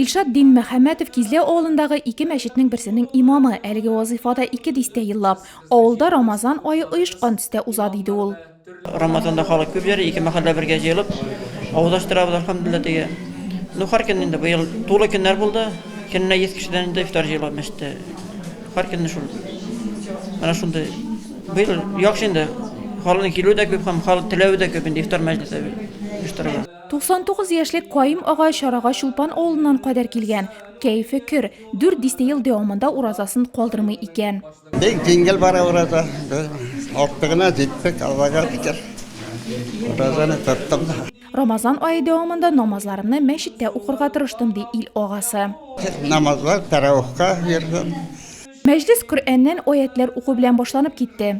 Илшат Динмөхәммәтов Кизләү авылындагы ике мәчетнең берсенең имамы, әлеге вазыйфа да ике дистә еллап. Авылда Рамазан ае оешкан төстә уза, диде ул. Рамазанда халык күп йөри, ике мәхәллә бергә җыелып авызаштырабыз, алхәмдуллилла, теге. Ну, һәр көн инде, быел тулы көннәр булды, көненә йөз кешедән инде ифтар җыела мәчеттә. Һәр көнне шул. Менә шундый. Быел яхшы инде, халыкның килүе дә күп һәм халык теләве дә күп инде ифтар мәҗлесе оештырырга. 99 яшьлек Каим ага чарага Чулпан авылыннан кадәр килгән. Кәефе көр. Дүрт дистә ел дәвамында уразасын калдырмый икән. Бик җиңел бара ураза. Актыгына җиттек, Аллага шөкер. Уразаны тоттым да. Рамазан ае дәвамында намазларымны мәчеттә укырга тырыштым, ди ил агасы. Намазлар тәравихка йөрдем. Мәҗлес Коръәннән аятьләр уку белән башланып китте.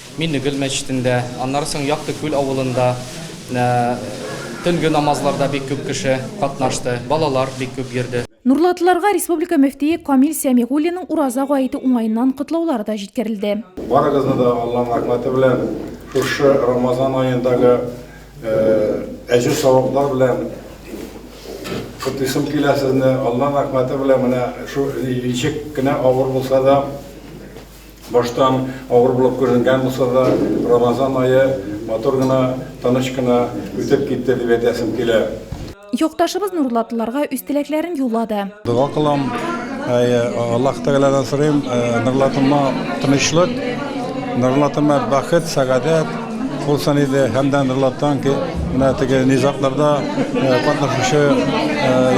Минегөл мәчетендә, аннары соң Якты Күл авылында төнге намазларда бик күп кеше катнашты, балалар бик күп йөрде. Нурлатлыларга республика мөфтие Камил Сәмигуллинның Ураза гаете уңаеннан котлаулары да җиткерелде. Барыгызны да Алланың рәхмәте белән, шушы Рамазан аендагы әҗер-саваплар белән котлыйсым килә сезне. Алланың рәхмәте белән менә шул ничек кенә авыр булса да, Баштан авыр булып күренгән булса да, Рамазан ае матур гына, тыныч кына үтеп китте дип әйтәсем килә. Якташыбыз Нурлатлыларга үз теләкләрен юллады. Дога кылам, Аллаһ Тәгаләдән сорыйм, Нурлатыма тынычлык, Нурлатыма бәхет, сәгадәт булсын иде һәм дә Нурлаттан менә теге низагларда катнашучы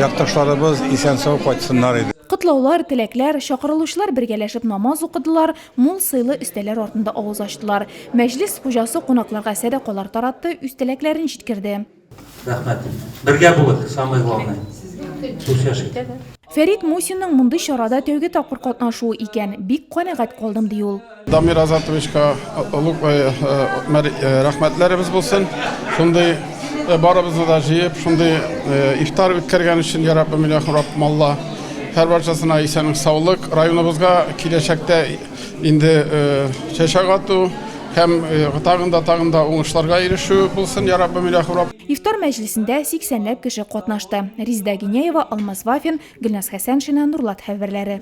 якташларыбыз исән-сау кайтсыннар иде. Котлаулар, теләкләр, чакырылучылар бергәләшеп намаз укыдылар, мул сыйлы өстәлләр артында авыз ачтылар. Мәҗлес хуҗасы кунакларга сәдакалар таратты, үз теләкләрен җиткерде. Рәхмәт. Бергә булыйк, самое главное. Дусләшик. Фәрит Мусинның мондый чарада тәүге тапкыр катнашуы икән. Бик канәгать калдым, ди ул. Дамир Азатовичка олуг рәхмәтләребез булсын. Шундый барыбызны да җыеп, шундый ифтар үткәргән өчен я Раббым иля Раббым Алла һәрбарчасына исәнлек, саулык, районыбызга киләчәктә инде чәчәк ату һәм тагын да тагын да уңышларга ирешү булсын, я Раббым иля Раббым. Ифтар мәҗлесендә 80 ләп кеше катнашты. Резеда Гиняева, Алмаз Вафин, Гөлназ Хәсәншина, Нурлат хәбәрләре.